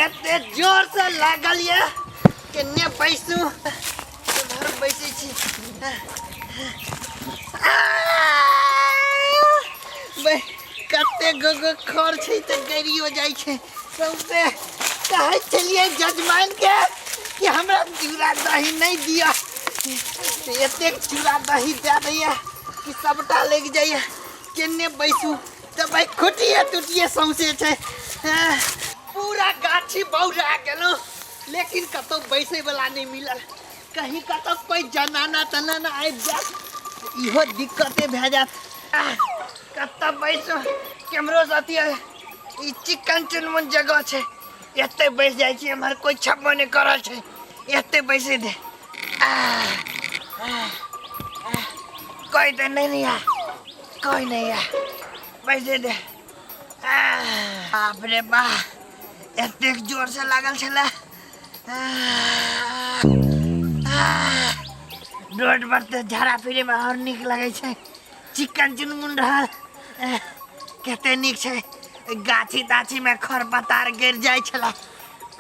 एते जोर से लागल ये केने बैसू घर बैसे छी बे कते गोगो खर छै तऽ गड़ियो जाइ छै सौंसे कहै छलियै जजमान के कि हमरा चूड़ा दही नहि दिअ एतेक चूड़ा दही दए दैया कि सबटा लागि जाइया केने बैसू तऽ भाइ खुटिए टुटिए सौँसे छै एह, पूरा गाछी बौरा गेलहुँ लेकिन कतहु बैसैवला नहि मिलल कहीं कतहु कोइ जनाना तनाना आबि जायत तऽ इहो दिक्कते भए जायत आह, कतऽ बैसू कैमरो साथी आए। ई चिकन चुनमुन जगह छै एतै बैस जाइ छी एम्हर कोइ छप्पो नहि करल छै एतै बैसे दे आह, आह, आह, कोइ तऽ नहि ने आएत। कोई नहीं है पैसे दे बाप रे बा एतेक जोर से लागल छले रोड पर तऽ झाड़ा फिरे में और निक लगे छै चिकन चुनमुन रहल कते निक छै गाछी ताछी में खर पतार गिर जाइ छले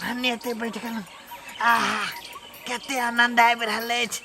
भन्ने एते बैठ गेलहुँ आहा कते आनंद आबि रहल अछि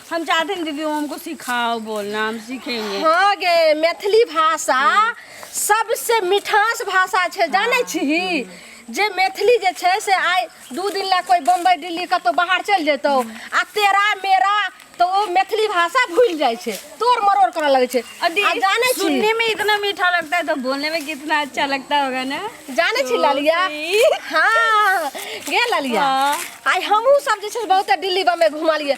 हम चाहते हैं दीदी वो हमको सिखाओ बोलना हम सीखेंगे हाँ गे मैथिली भाषा सबसे मिठास भाषा छै जानै छिही जे मैथिली जे छै से आइ दू दिन लए कोइ बम्बई दिल्ली कतहु बाहर चलि जेतौ आ तेरा मेरा तो ओ मैथिली भाषा भूलि जाइ छै तोड़ मरोड़ करऽ लगै छै और आ दीदी जानै छी सुनने में इतना मीठा लगता है तो बोलने में कितना अच्छा लगता होगा ना जानै छी लालिया हाँ गे लालिया हाँ। आइ हमहूँ सब जे छै से बहुते दिल्ली बम्बई घुमलियै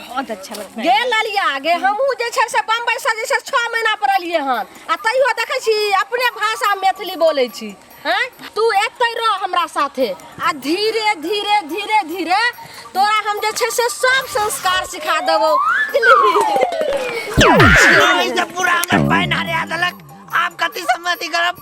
बहुत अच्छा लगता गे ललिया गे हमहूँ जे छै से बम्बइसँ जे छै से छओ महीना पर एलियै हन आ तैयो देखै छी अपने भाषा मैथिली बोलै छी हैं तू एतै रह हमरा साथे आ धीरे धीरे धीरे धीरे तोरा हम जे छै से सब संस्कार सिखा देबौ पूरा हमर पानि हरिया देलक आब कथी सम्मति करब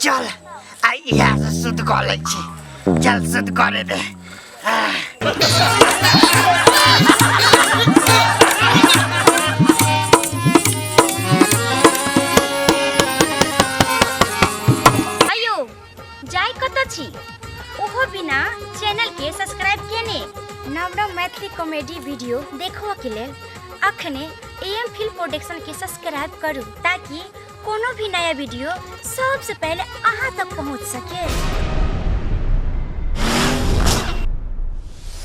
चल आइ इएह से शुद्ध कऽ लै छी चल शुद्ध करे दे अयो जाय कतऽ छी ओहो बिना चैनल के सब्सक्राइब केने नव नव मैथिली कॉमेडी वीडियो देखबऽ के लेल अखने एम फिल्म प्रोडक्शन के सब्सक्राइब करू ताकि कोनो भी नया वीडियो सबसे पहले अहाँ तक पहुँच सके